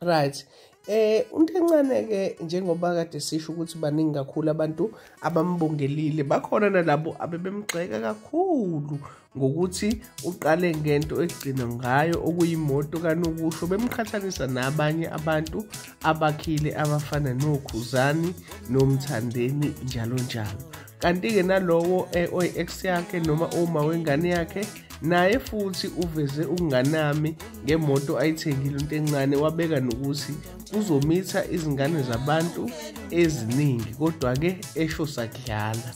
right eh umuntu encane ke njengoba kade sisho ukuthi baningi kakhulu abantu abambongelile bakhona nalabo abebemgxeka kakhulu ngokuthi uqale ngento egcina ngayo okuyimoto kanokusho bemqhathanisa nabanye abantu abakhile abafana nokhuzani nomthandeni njalo njalo kanti-ke nalowo eh, oyi-ex yakhe noma uma wengane yakhe naye futhi uveze ukunganami ngemoto ayithengile into encane wabeka nokuthi uzomitha izingane zabantu eziningi kodwa-ke esho sakudlala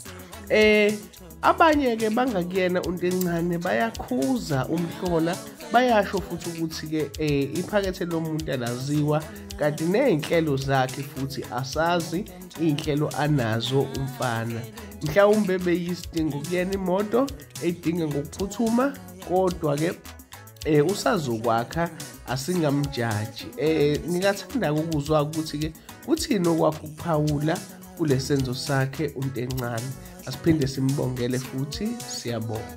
eh abanye-ke bangakuyena into encane bayakhuza umhlola bayasho futhi ukuthi-ke um iphakethe lomuntu alaziwa kanti ney'nhlelo zakhe futhi asazi iy'nhlelo anazo umfana mhlawumbe beyisidingo kuyena imoto eyidinge ngokuphuthuma kodwa-ke eh usazokwakha asingamjaji eh ngingathanda ukuzwa ukuthi ke kuthini okwakho ukuphawula kulesenzo sakhe untencane asiphinde simbongele futhi siyabonga